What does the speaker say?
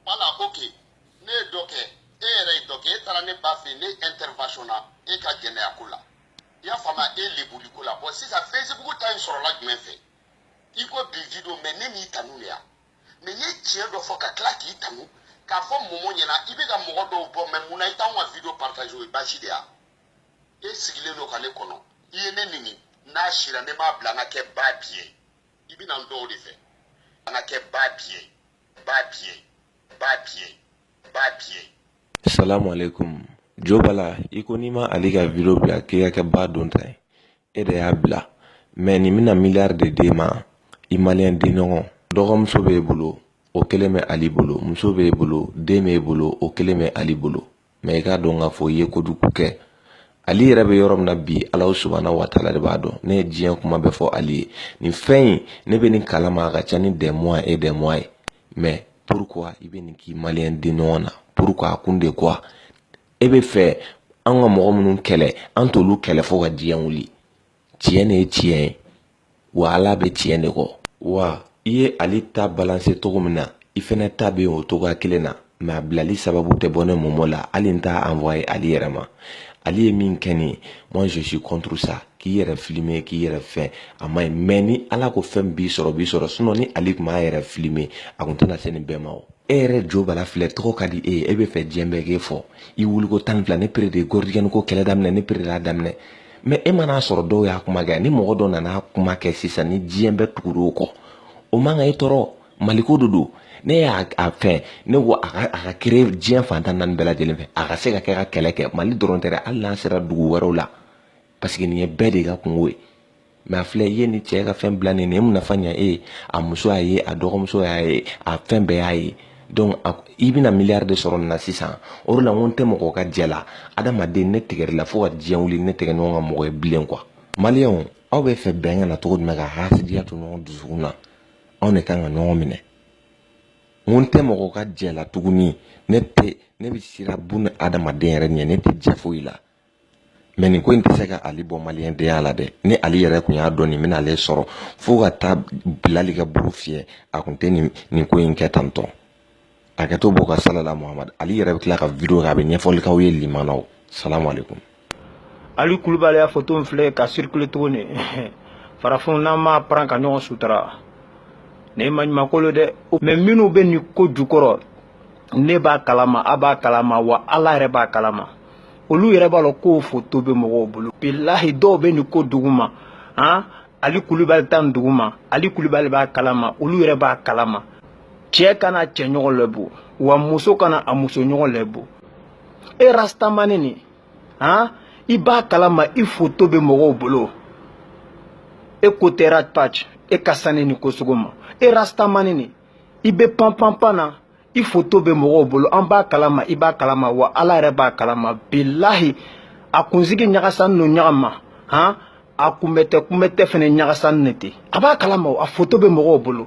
wala ko ke ne ye dɔ kɛ e yɛrɛ ye dɔ kɛ e taara ne ba fɛ ne intervention na e ka jɛnɛya ko la i y'a faamu e lebuli ko la bɔn sisan facebook ta in sɔrɔla jumɛn fɛ i ko bi video mɛ ne m'i tanu de ya mɛ n ye tiɲɛ dɔ fɔ ka tila k'i tanu k'a fɔ mɔmɔ ɲɛna i bɛ ka mɔgɔ dɔw bɔ mɛ mun na i t'anw ka video partage o ye baasi de ya e sigilen don ka ne kɔnɔ i ye ne neni n'a sira ne m'a bila n ka kɛ ba biyɛ i bɛna n dɔw de fɛ an ka kɛ ba biyɛ ba biyɛ ba biyɛ ba biyɛ salamu aleykum jo bala i ko n'i ma ali ka video bila k'i ka kɛ ba don ta ye e de y'a bila mɛ nin bɛna miliyari de d'e ma i maliyɛn denɲɔgɔn dɔgɔmuso b'e bolo o kelen bɛ ali bolo muso b'e bolo den b'e bolo o kelen bɛ ali bolo mɛ i k'a dɔn k'a fɔ i ye kojugu kɛ ali yɛrɛ bɛ yɔrɔ min na bi ala subana waatala de b'a dɔn ne ye diɲɛ kuma bɛ fɔ ali ye nin fɛn in ne bɛ nin kalama a ka ca ni des mois et des mois ye mɛ pourquoi i bɛ nin k'i maliyɛn denɲɔgɔn na pourquoi a kun de quoi e bɛ fɛ an ka mɔgɔ minnu kɛlɛ an t'olu kɛlɛ fo ka diɲɛ wuli tiɲɛ de ye tiɲɛ ye wa ala bɛ tiɲɛ de kɔ wa i ye ali ta balanse cogo min na i fɛnɛ ta bɛ yen o cogoya kelen na mɛ a bilali sababu tɛ bɔ ne mɔmɔ la hali n t'a envoyer ali yɛrɛ ma ali ye min kɛ nin moi je suis contre ça k'i yɛrɛ filime k'i yɛrɛ fɛn a ma ɲi mɛ ni ala ko fɛn b'i sɔrɔ b'i sɔrɔ sinon ni ali tun m'a yɛrɛ filime a kun tɛna se nin bɛɛ ma e yɛrɛ jo bala filɛ tɔgɔ ka di e ye e bɛ fɛ diɲɛ bɛɛ k'e fɔ i wuliko tan fila ne pere de gɔridiɲɛni ko kɛlɛ daminɛ ne pere y'a daminɛ mɛ e man'a sɔrɔ dɔw y'a kuma kɛ ni mɔgɔ dɔ nana kuma kɛ sisan ni diɲɛ bɛ tugu o kɔ o man kan e tɔɔrɔ maliko de don ne y'a fɛn ne ko a ka créer diɲɛ fan tan naani bɛɛ lajɛlen fɛ a ka se ka kɛ ka kɛlɛ kɛ mali dɔrɔn tɛ hali n'a sera dugu wɛrɛw la parce que nin ye bɛɛ de ka kunko ye mɛ a filɛ i ye nin cɛ ka fɛn bila nin ye mun nafa ɲɛ e ye a muso y'a ye a dɔgɔmuso y'a ye a fɛn bɛɛ y'a ye donc i bɛna miliyari de sɔrɔ nin na sisan o de la n ko n tɛ mɔgɔ ka jɛ la adamaden ne tigɛr'i la fo ka diɲɛ wuli ne tɛ kɛ mɔgɔ ka mɔgɔ ye bilen quoi maliyɛnw aw bɛ fɛ bɛn ka na cogo jumɛn ka hasidiya to ɲɔgɔn dusukun na anw de ka kan ka ɲɔgɔn minɛ n tɛ mɔgɔ ka jɛ la tuguni ne bɛ siran buni adamaden yɛrɛ ɲɛ ne tɛ jɛ foyi la mɛ nin ko in tɛ se ka ali bɔ maliyɛndenya la dɛ ni ali yɛrɛ kun y'a dɔn nin bɛna ale sɔrɔ fo ka taa bilali ka buru fiyɛ a kun tɛ nin ko in kɛ tantɔ a kɛ to bɔ ka salala muhamadu ali yɛrɛ bɛ tila ka video kɛ a bɛ ɲɛfɔli k'aw ye limanaw salamu alaikum ali kulubali y'a foto filɛ ka circule tuguni farafinw n'an m'a paran ka ɲɔgɔn sutura nin ye maɲumako lo dɛ mɛ minnu bɛ nin ko jukɔrɔ ne b'a kalama a b'a kalama wa ala yɛrɛ b'a kalama olu yɛrɛ b'a lɔn k'o foto bɛ mɔgɔw bolo bilahi dɔw bɛ nin ko duguma han ali kulubali ta nin duguma ali kulubali b'a kalama olu yɛrɛ b'a kalama cɛ kana cɛ ɲɔgɔn lebu wa muso kana a muso ɲɔgɔn lebu e rastamani nin han i b'a kalama i foto bɛ mɔgɔw bolo e ko tɛ ras bath e ka sanni nin ko sugu ma e rastamani nin i bɛ panpanpan na i foto bɛ mɔgɔw bolo an b'a kalama i b'a kalama wa ala yɛrɛ b'a kalama bilahi a kunsigi ɲagasan n'o ɲagama han a kunbɛ tɛ kunbɛ tɛ fɛnɛ ɲagasanen ten a b'a kalama a foto bɛ mɔgɔw bolo